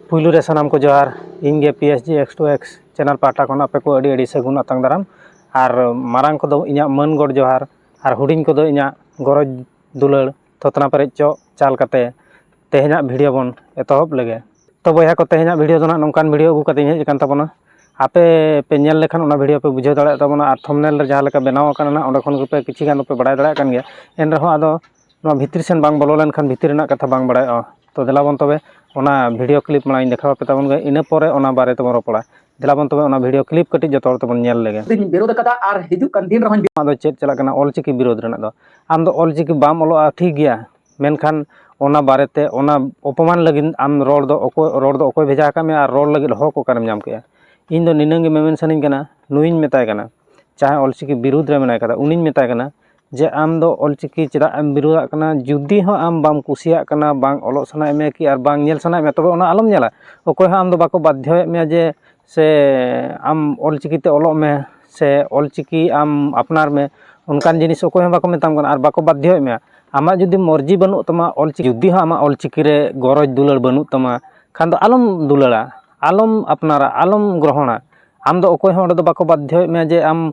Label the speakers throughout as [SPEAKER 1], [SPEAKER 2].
[SPEAKER 1] ᱯᱩᱭᱞᱩ ᱨᱮ ᱥᱟᱱᱟᱢ ᱠᱚ ᱡᱚᱦᱟᱨ ᱤᱧ ᱜᱮ P S G X two X channel ᱯᱟᱦᱴᱟ ᱠᱷᱚᱱ ᱟᱯᱮ ᱠᱚ ᱟᱹᱰᱤ ᱟᱹᱰᱤ ᱥᱟᱹᱜᱩᱱ ᱟᱛᱟᱝ ᱫᱟᱨᱟᱢ ᱟᱨ ᱢᱟᱨᱟᱝ ᱠᱚᱫᱚ ᱤᱧᱟᱹᱜ ᱢᱟᱹᱱ ᱜᱚᱰ ᱡᱚᱦᱟᱨ ᱟᱨ ᱦᱩᱰᱤᱧ ᱠᱚᱫᱚ ᱤᱧᱟᱹᱜ ᱜᱚᱨᱚᱡᱽ ᱫᱩᱞᱟᱹᱲ ᱛᱷᱩᱛᱱᱟ ᱯᱮᱨᱮᱡ ᱪᱚᱜ ᱪᱟᱞ ᱠᱟᱛᱮᱫ ᱛᱮᱦᱮᱧᱟᱜ ᱵᱷᱤᱰᱭᱳ ᱵᱚᱱ ᱮᱛᱚᱦᱚᱵ ᱞᱮᱜᱮ ᱛᱚ ᱵᱚᱭᱦᱟ ᱠᱚ ᱛᱮᱦᱮᱧᱟᱜ ᱵᱷᱤᱰᱭᱳ ᱫᱚ ᱦᱟᱸᱜ ᱱᱚᱝᱠᱟᱱ ᱵᱷᱤᱰᱭᱳ ᱟᱹᱜᱩ ᱠᱟᱛᱮᱫ ᱤᱧ ᱦᱮᱡ ᱟᱠᱟᱱ ᱛᱟᱵᱚᱱᱟ ᱟᱯᱮ ᱯᱮ ᱧᱮᱞ ᱞᱮᱠᱷᱟᱱ ᱚᱱᱟ ᱵᱷᱤᱰᱭᱳ ᱯᱮ ᱵᱩᱡᱷᱟᱹᱣ ᱫᱟᱲᱮᱭᱟᱜ ᱛᱟᱵᱚᱱᱟ ᱟᱨ ᱛᱷᱚᱢᱱᱮᱞ ᱨᱮ ᱡᱟᱦᱟᱸ ᱞᱮᱠᱟ ᱵᱮᱱᱟᱣ ᱟᱠᱟᱱᱟ ᱦᱟᱸᱜ ᱚᱸᱰᱮ ᱠᱷᱚᱱ ᱜᱮᱯᱮ ᱠᱤᱪᱷᱩ ᱜᱟᱱ ᱫᱚᱯᱮ ᱵᱟᱲᱟᱭ ᱫᱟᱲᱮᱭᱟᱜ ᱠᱟᱱ ᱜᱮᱭᱟ ᱮᱱ ᱨᱮᱦᱚᱸ ᱟᱫᱚ ᱱᱚᱣᱟ ᱵᱷᱤᱛᱨᱤ ᱥᱮᱱ ᱵᱟᱝ ᱵᱚᱞᱚ ᱞᱮᱱᱠᱷᱟᱱ ᱵᱷᱤᱛᱤᱨ ᱨᱮᱱᱟᱜ ᱠᱟᱛᱷᱟ ᱵᱟᱝ ᱵᱟᱲᱟᱭᱚᱜᱼᱟ ᱛᱚ ᱫᱮᱞᱟ ᱵᱚᱱ ᱛᱚᱵᱮ ᱚᱱᱟ ᱵᱷᱤᱰᱭᱳ ᱠᱞᱤᱯ ᱢᱟᱲᱟᱝ ᱤᱧ ᱫᱮᱠᱷᱟᱣ ᱟᱯᱮ ᱛᱟᱵᱚᱱ ᱜᱮ ᱤᱱᱟᱹ ᱯᱚᱨᱮ ᱚᱱᱟ ᱵᱟᱨᱮ ᱛᱮᱵᱚᱱ ᱨᱚᱯᱚᱲᱟ ᱫᱮᱞᱟ ᱵᱚᱱ ᱛᱚᱵᱮ ᱚᱱᱟ ᱵᱷᱤᱰᱭᱳ ᱠᱞᱤᱯ ᱠᱟᱹᱴᱤᱡ ᱡᱚᱛᱚ ᱦᱚᱲ ᱛᱮᱵᱚᱱ ᱧᱮᱞ ᱞᱮᱜᱮ ᱫᱚᱧ ᱵᱤᱨᱳᱫᱷ ᱟᱠᱟᱫᱟ ᱟᱨ ᱦᱤᱡᱩᱜ ᱠᱟᱱ ᱫᱤᱱ ᱨᱮᱦᱚᱸᱧ ᱟᱢᱟᱜ ᱫᱚ ᱪᱮᱫ ᱪᱟᱞᱟᱜ ᱠᱟᱱᱟ ᱚᱞ ᱪᱤᱠᱤ ᱵᱤᱨᱳᱫᱷ ᱨᱮᱱᱟᱜ ᱫᱚ ᱟᱢ ᱫᱚ ᱚᱞ ᱪᱤᱠᱤ ᱵᱟᱢ ᱚᱞᱚᱜᱼᱟ ᱴᱷᱤᱠ ᱜᱮᱭᱟ ᱢᱮᱱᱠᱷᱟᱱ ᱚᱱᱟ ᱵᱟᱨᱮ ᱛᱮ ᱚᱱᱟ ᱚᱯᱚᱢᱟᱱ ᱞᱟᱹᱜᱤᱫ ᱟᱢ ᱨᱚᱲ ᱫᱚ ᱚᱠᱚᱭ ᱨᱚᱲ ᱫᱚ ᱚᱠᱚᱭ ᱵᱷᱮᱡᱟ ᱟᱠᱟᱫ ᱢᱮᱭᱟ ᱟᱨ ᱨᱚᱲ ᱞᱟᱹᱜᱤᱫ ᱦᱚᱠ ᱚᱠᱟᱨᱮᱢ ᱧᱟᱢ ᱠᱮᱜᱼᱟ ᱤᱧ ᱫᱚ ᱱᱤᱱᱟᱹᱝ ᱜᱮ ᱢᱮᱢᱮᱱ ᱥᱟᱱᱟᱹᱧ ᱠᱟᱱᱟ ᱱᱩᱭᱤᱧ ᱢᱮᱛᱟᱭ ᱠᱟᱱᱟ ᱡᱟᱦᱟᱸᱭ ᱚᱞ ᱪᱤᱠᱤ ᱵᱤᱨᱳᱫᱷ ᱨᱮ ᱢᱮᱱᱟᱭ ᱠᱟᱫᱮ ᱩᱱᱤᱧ ᱢᱮᱛᱟᱭ ᱠᱟᱱᱟ ᱡᱮ ᱟᱢ ᱫᱚ ᱚᱞ ᱪᱤᱠᱤ ᱪᱮᱫᱟᱜ ᱮᱢ ᱵᱤᱨᱳᱫᱟᱜ ᱠᱟᱱᱟ ᱡᱩᱫᱤ ᱦᱚᱸ ᱟᱢ ᱵᱟᱢ ᱠᱩᱥᱤᱭᱟᱜ ᱠᱟᱱᱟ ᱵᱟᱝ ᱚᱞᱚᱜ ᱥᱟᱱᱟᱭᱮᱫ ᱢᱮᱭᱟ ᱠᱤ ᱟᱨ ᱵᱟᱝ ᱧᱮᱞ ᱥᱟᱱᱟᱭᱮᱫ ᱢᱮᱭᱟ ᱛᱚᱵᱮ ᱚᱱᱟ ᱟᱞᱚᱢ ᱧᱮᱞᱟ ᱚᱠᱚᱭ ᱦᱚᱸ ᱟᱢ ᱫᱚ ᱵᱟᱠᱚ ᱵᱟᱫᱽᱫᱷᱚᱭᱮᱫ ᱢᱮᱭᱟ ᱡᱮ ᱥᱮ ᱟᱢ ᱚᱞ ᱪᱤᱠᱤ ᱛᱮ ᱚᱞᱚᱜ ᱢᱮ ᱥᱮ ᱚᱞ ᱪᱤᱠᱤ ᱟᱢ ᱟᱯᱱᱟᱨ ᱢᱮ ᱚᱱᱠᱟᱱ ᱡᱤᱱᱤᱥ ᱚᱠᱚᱭ ᱦᱚᱸ ᱵᱟᱠᱚ ᱢᱮᱛᱟᱢ ᱠᱟᱱᱟ ᱟᱨ ᱵᱟᱠᱚ ᱵᱟᱫᱽᱫᱷᱚᱭᱮᱫ ᱢᱮᱭᱟ ᱟᱢᱟᱜ ᱡᱩᱫᱤ ᱢᱚᱨᱡᱤ ᱵᱟᱹᱱᱩᱜ ᱛᱟᱢᱟ ᱚᱞ ᱪᱤᱠᱤ ᱡᱩᱫᱤ ᱦᱚᱸ ᱟᱢᱟᱜ ᱚᱞ ᱪᱤᱠᱤ ᱨᱮ ᱜᱚᱨᱚᱡᱽ ᱫᱩᱞᱟᱹᱲ ᱵᱟᱹᱱᱩᱜ ᱛᱟᱢᱟ ᱠᱷᱟᱱ ᱫᱚ ᱟᱞᱚᱢ ᱫᱩᱞᱟᱹᱲᱟ ᱟᱞᱚᱢ ᱟᱯᱱᱟᱨᱟ ᱟᱞᱚᱢ ᱜᱨᱚᱦᱚᱱᱟ ᱟᱢ ᱫᱚ ᱚᱠᱚᱭ ᱦᱚᱸ ᱚᱸᱰᱮ ᱫᱚ ᱵᱟᱠᱚ ᱵᱟᱫᱽᱫᱷᱚᱭᱮᱫ ᱢᱮᱭᱟ ᱡᱮ ᱟᱢ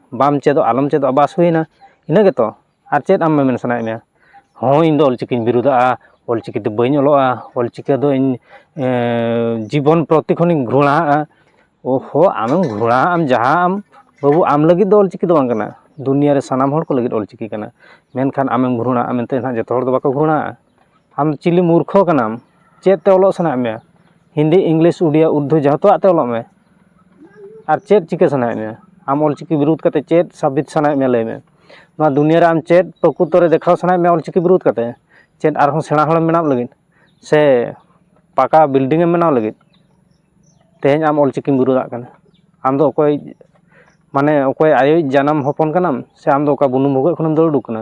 [SPEAKER 1] ᱵᱟᱢ ᱪᱮᱫᱚᱜ ᱟᱞᱚᱢ ᱪᱮᱫᱚᱜ ᱵᱟᱥ ᱦᱩᱭᱮᱱᱟ ᱤᱱᱟᱹ ᱜᱮᱛᱚ ᱟᱨ ᱪᱮᱫ ᱟᱢ ᱢᱮᱢᱮᱱ ᱥᱟᱱᱟᱭᱮᱫ ᱢᱮᱭᱟ ᱦᱳᱭ ᱤᱧᱫᱚ ᱚᱞ ᱪᱤᱠᱤᱧ ᱵᱤᱨᱩᱫᱟᱜᱼᱟ ᱚᱞ ᱪᱤᱠᱤ ᱫᱚ ᱵᱟᱹᱧ ᱚᱞᱚᱜᱼᱟ ᱚᱞ ᱪᱤᱠᱤ ᱫᱚ ᱤᱧ ᱡᱤᱵᱚᱱ ᱯᱨᱚᱛᱤ ᱠᱷᱚᱱᱤᱧ ᱜᱷᱨᱚᱬᱟᱣᱟᱜᱼᱟ ᱚᱦᱳ ᱟᱢᱮᱢ ᱜᱷᱨᱚᱬᱟᱣᱟᱜ ᱟᱢ ᱡᱟᱦᱟᱸ ᱟᱢ ᱵᱟᱹᱵᱩ ᱟᱢ ᱞᱟᱹᱜᱤᱫ ᱫᱚ ᱚᱞ ᱪᱤᱠᱤ ᱫᱚ ᱵᱟᱝ ᱠᱟᱱᱟ ᱫᱩᱱᱤᱭᱟᱹ ᱨᱮ ᱥᱟᱱᱟᱢ ᱦᱚᱲ ᱠᱚ ᱞᱟᱹᱜᱤᱫ ᱚᱞ ᱪᱤᱠᱤ ᱠᱟᱱᱟ ᱢᱮᱱᱠᱷᱟᱱ ᱟᱢᱮᱢ ᱜᱷᱨᱚᱬᱟᱜᱼᱟ ᱢᱮᱱᱛᱮ ᱦᱟᱸᱜ ᱡᱚᱛᱚ ᱦᱚᱲ ᱫᱚ ᱵᱟᱠᱚ ᱜᱷᱨᱚᱬᱟᱜᱼᱟ ᱟᱢ ᱪᱤᱞᱤ ᱢᱩᱨᱠᱷᱚ ᱠᱟᱱᱟᱢ ᱪᱮᱫ ᱛᱮ ᱚᱞᱚᱜ ᱥᱟᱱᱟᱭᱮᱫ ᱢᱮᱭᱟ ᱦᱤᱱᱫᱤ ᱤᱝᱞᱤᱥ ᱩᱰᱤᱭᱟ ᱩᱨᱫᱩ ᱡᱚᱛᱚᱣᱟᱜ ᱛᱮ ᱚᱞᱚᱜ ᱢᱮ ᱟᱨ ᱪᱮᱫ ᱪᱤᱠᱟᱹ ᱥᱟᱱᱟᱭᱮᱫ ᱢᱮᱭᱟ ᱟᱢ ᱚᱞ ᱪᱤᱠᱤ ᱵᱤᱨᱩᱫᱷ ᱠᱟᱛᱮᱫ ᱪᱮᱫ ᱥᱟᱵᱤᱛ ᱥᱟᱱᱟᱭᱮᱫ ᱢᱮᱭᱟ ᱞᱟᱹᱭ ᱢᱮ ᱱᱚᱣᱟ ᱫᱩᱱᱤᱭᱟᱹ ᱨᱮ ᱟᱢ ᱪᱮᱫ ᱯᱨᱚᱠᱨᱤᱛᱚ ᱨᱮ ᱫᱮᱠᱷᱟᱣ ᱥᱟᱱᱟᱭᱮᱫ ᱢᱮᱭᱟ ᱚᱞ ᱪᱤᱠᱤ ᱵᱤᱨᱩᱫᱷ ᱠᱟᱛᱮᱫ ᱪᱮᱫ ᱟᱨᱦᱚᱸ ᱥᱮᱬᱟ ᱦᱚᱲᱮᱢ ᱵᱮᱱᱟᱜ ᱞᱟᱹᱜᱤᱫ ᱥᱮ ᱯᱟᱠᱟ ᱵᱤᱞᱰᱤᱝ ᱮᱢ ᱵᱮᱱᱟᱣ ᱞᱟᱹᱜᱤᱫ ᱛᱮᱦᱮᱧ ᱟᱢ ᱚᱞ ᱪᱤᱠᱤᱢ ᱵᱤᱨᱩᱫᱷᱟᱜ ᱠᱟᱱᱟ ᱟᱢ ᱫᱚ ᱚᱠᱚᱭ ᱢᱟᱱᱮ ᱚᱠᱚᱭ ᱟᱭᱳᱭᱤᱡ ᱡᱟᱱᱟᱢ ᱦᱚᱯᱚᱱ ᱠᱟᱱᱟᱢ ᱥᱮ ᱟᱢ ᱫᱚ ᱚᱠᱟ ᱵᱩᱱᱩᱢ ᱵᱷᱩᱜᱟᱹᱜ ᱠᱷᱚᱱᱮᱢ ᱫᱟᱹᱲ ᱩᱰᱩᱠ ᱠᱟᱱᱟ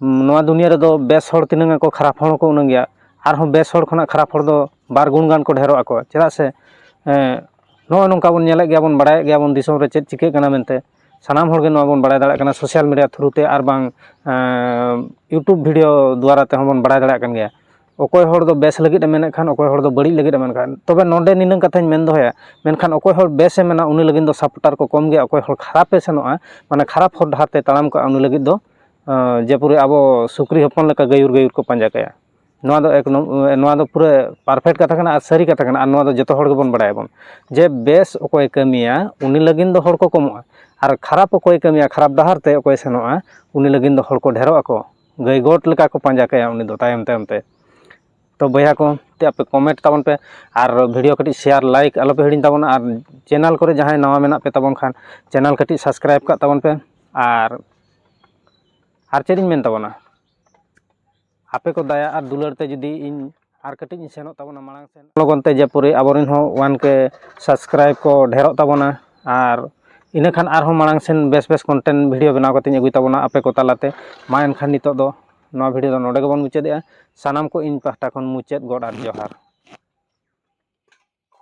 [SPEAKER 1] ᱱᱚᱣᱟ ᱫᱩᱱᱤᱭᱟᱹ ᱨᱮᱫᱚ ᱵᱮᱥ ᱦᱚᱲ ᱛᱤᱱᱟᱹᱝ ᱟᱠᱚ ᱠᱷᱟᱨᱟᱯ ᱦᱚᱲ ᱦᱚᱸᱠᱚ ᱩᱱᱟᱹᱝ ᱜᱮ ᱟᱨᱦᱚᱸ ᱵᱮᱥ ᱦᱚᱲ ᱠᱷᱚᱱᱟᱜ ᱠᱷᱟᱨᱟᱯ ᱦᱚᱲ ᱫᱚ ᱵᱟᱨ ᱜᱩᱱ ᱜᱟᱱ ᱠᱚ ᱰᱷᱮᱨᱚᱜ ᱟᱠᱚ ᱪᱮᱫᱟᱜ ᱥᱮ ᱱᱚᱜᱼᱚᱭ ᱱᱚᱝᱠᱟ ᱵᱚᱱ ᱧᱮᱞᱮᱫ ᱜᱮᱭᱟ ᱵᱚᱱ ᱵᱟᱲᱟᱭᱮᱫ ᱜᱮᱭᱟ ᱵᱚᱱ ᱫᱤᱥᱚᱢ ᱨᱮ ᱪᱮᱫ ᱪᱤᱠᱟᱹᱜ ᱠᱟᱱᱟ ᱢᱮᱱᱛᱮ ᱥᱟᱱᱟᱢ ᱦᱚᱲᱜᱮ ᱱᱚᱣᱟ ᱵᱚᱱ ᱵᱟᱲᱟᱭ ᱫᱟᱲᱮᱭᱟᱜ ᱠᱟᱱᱟ ᱥᱳᱥᱟᱞ ᱢᱤᱰᱤᱭᱟ ᱛᱷᱨᱩ ᱛᱮ ᱟᱨ ᱵᱟᱝ ᱤᱭᱩᱴᱩᱵᱽ ᱵᱷᱤᱰᱭᱳ ᱫᱳᱣᱟᱨᱟ ᱛᱮᱦᱚᱸ ᱵᱚᱱ ᱵᱟᱲᱟᱭ ᱫᱟᱲᱮᱭᱟᱜ ᱠᱟᱱ ᱜᱮᱭᱟ ᱚᱠᱚᱭ ᱦᱚᱲ ᱫᱚ ᱵᱮᱥ ᱞᱟᱹᱜᱤᱫ ᱮ ᱢᱮᱱᱮᱫ ᱠᱷᱟᱱ ᱚᱠᱚᱭ ᱦᱚᱲ ᱫᱚ ᱵᱟᱹᱲᱤᱡ ᱞᱟᱹᱜᱤᱫ ᱮ ᱢᱮᱱᱮᱫ ᱠᱷᱟᱱ ᱛᱚᱵᱮ ᱱᱚᱰᱮ ᱱᱤᱱᱟᱹᱝ ᱠᱟᱛᱷᱟᱧ ᱢᱮᱱ ᱫᱚᱦᱚᱭᱟ ᱢᱮᱱᱠᱷᱟᱱ ᱚᱠᱚᱭ ᱦᱚᱲ ᱵᱮᱥ ᱮ ᱢᱮᱱᱟ ᱩᱱᱤ ᱞᱟᱹᱜᱤᱫ ᱫᱚ ᱥᱟᱯᱚᱴᱟᱨ ᱠᱚ ᱠᱚᱢ ᱜᱮᱭᱟ ᱚᱠᱚᱭ ᱦᱚᱲ ᱠᱷᱟᱨᱟᱯᱮ ᱥᱮᱱᱚᱜᱼᱟ ᱢᱟᱱᱮ ᱠᱷᱟᱨᱟᱯ ᱦᱚᱨ ᱰᱟᱦᱟᱨ ᱛᱮ ᱛᱟᱲᱟᱢ ᱠᱟᱜᱼᱟ ᱩᱱᱤ ᱞᱟᱹᱜᱤᱫ ᱫᱚ ᱡᱮᱯᱚᱨᱤ ᱟᱵᱚ ᱥᱩᱠᱨᱤ ᱦᱚᱯᱚᱱ ᱞᱮᱠᱟ ᱜᱟᱹᱭᱩᱨ ᱜᱟᱹᱭᱩᱨ ᱠᱚ ᱯᱟᱸᱡᱟ ᱠᱟᱭᱟ ᱱᱚᱣᱟ ᱫᱚ ᱮᱠ ᱱᱚᱣᱟ ᱫᱚ ᱯᱩᱨᱟᱹ ᱯᱟᱨᱯᱷᱮᱠᱴ ᱠᱟᱛᱷᱟ ᱠᱟᱱᱟ ᱟᱨ ᱥᱟᱹᱨᱤ ᱠᱟᱛᱷᱟ ᱠᱟᱱᱟ ᱟᱨ ᱱᱚᱣᱟ ᱫᱚ ᱡᱚᱛᱚ ᱦᱚᱲ ᱜᱮᱵᱚᱱ ᱵᱟᱲᱟᱭᱟᱵᱚᱱ ᱡᱮ ᱵᱮᱥ ᱚᱠᱚᱭᱮ ᱠᱟᱹᱢᱤᱭᱟ ᱩᱱᱤ ᱞᱟᱹᱜᱤᱫ ᱫᱚ ᱦᱚᱲ ᱠᱚ ᱠᱚᱢᱚᱜᱼᱟ ᱟᱨ ᱠᱷᱟᱨᱟᱯ ᱚᱠᱚᱭᱮ ᱠᱟᱹᱢᱤᱭᱟ ᱠᱷᱟᱨᱟᱯ ᱰᱟᱦᱟᱨ ᱛᱮ ᱚᱠᱚᱭᱮ ᱥᱮᱱᱚᱜᱼᱟ ᱩᱱᱤ ᱞᱟᱹᱜᱤᱫ ᱫᱚ ᱦᱚᱲ ᱠᱚ ᱰᱷᱮᱨᱚᱜ ᱟᱠᱚ ᱜᱟᱹᱭ ᱜᱚᱴ ᱞᱮᱠᱟ ᱠᱚ ᱯᱟᱸᱡᱟ ᱠᱟᱭᱟ ᱩᱱᱤ ᱫᱚ ᱛᱟᱭᱚᱢ ᱛᱟᱭᱚᱢ ᱛᱮ ᱛᱚ ᱵᱚᱭᱦᱟ ᱠᱚ ᱟᱯᱮ ᱠᱚᱢᱮᱱᱴ ᱛᱟᱵᱚᱱ ᱯᱮ ᱟᱨ ᱵᱷᱤᱰᱤᱭᱳ ᱠᱟᱹᱴᱤᱡ ᱥᱮᱭᱟᱨ ᱞᱟᱭᱤᱠ ᱟᱞᱚ ᱯᱮ ᱦᱤᱲᱤᱧ ᱛᱟᱵᱚᱱᱟ ᱟᱨ ᱪᱮᱱᱮᱞ ᱠᱚᱨᱮ ᱡᱟᱦᱟᱸᱭ ᱱᱟᱣᱟ ᱢᱮᱱᱟᱜ ᱯᱮ ᱛᱟᱵᱚᱱ ᱠᱷᱟᱱ ᱪᱮᱱᱮᱞ ᱠᱟᱹᱴᱤᱡ ᱥᱟᱵᱥᱠᱨᱟᱭᱤᱵᱽ ᱠᱟᱜ ᱛᱟᱵᱚᱱ ᱯᱮ ᱟᱨ ᱟᱨ ᱪᱮᱫ ᱤᱧ ᱢᱮᱱ ᱛᱟᱵᱚᱱᱟ ᱟᱯᱮ ᱠᱚ ᱫᱟᱭᱟ ᱟᱨ ᱫᱩᱞᱟᱹᱲ ᱛᱮ ᱡᱩᱫᱤ ᱤᱧ ᱟᱨ ᱠᱟᱹᱴᱤᱡ ᱤᱧ ᱥᱮᱱᱚᱜ ᱛᱟᱵᱚᱱᱟ ᱢᱟᱲᱟᱝ ᱥᱮᱱ ᱞᱚᱜᱚᱱ ᱛᱮ ᱡᱮᱯᱩᱨᱤ ᱟᱵᱚᱨᱮᱱ ᱦᱚᱸ ᱚᱣᱟᱱ ᱠᱮ ᱥᱟᱵᱥᱠᱨᱟᱭᱤᱵᱽ ᱠᱚ ᱰᱷᱮᱨᱚᱜ ᱛᱟᱵᱚᱱᱟ ᱟᱨ ᱤᱱᱟᱹ ᱠᱷᱟᱱ ᱟᱨᱦᱚᱸ ᱢᱟᱲᱟᱝ ᱥᱮᱱ ᱵᱮᱥ ᱵᱮᱥ ᱠᱚᱱᱴᱮᱱᱴ ᱵᱷᱤᱰᱤᱭᱳ ᱵᱮᱱᱟᱣ ᱠᱟᱛᱮᱧ ᱟᱹᱜᱩᱭ ᱛᱟᱵᱚᱱᱟ ᱟᱯᱮ ᱠᱚ ᱛᱟᱞᱟᱛᱮ ᱢᱟ ᱮᱱᱠᱷᱟᱱ ᱱᱤᱛᱚᱜ ᱫᱚ ᱱᱚᱣᱟ ᱵᱷᱤᱰᱤᱭᱳ ᱫᱚ ᱱᱚᱰᱮ ᱜᱮᱵᱚᱱ ᱢᱩᱪᱟᱹᱫᱮᱜᱼᱟ ᱥᱟᱱᱟᱢ ᱠᱚ ᱤᱧ ᱯᱟᱦᱴᱟ ᱠᱷᱚᱱ ᱢᱩᱪᱟᱹᱫ ᱜᱚᱰ ᱟᱨ ᱡᱚᱦᱟᱨ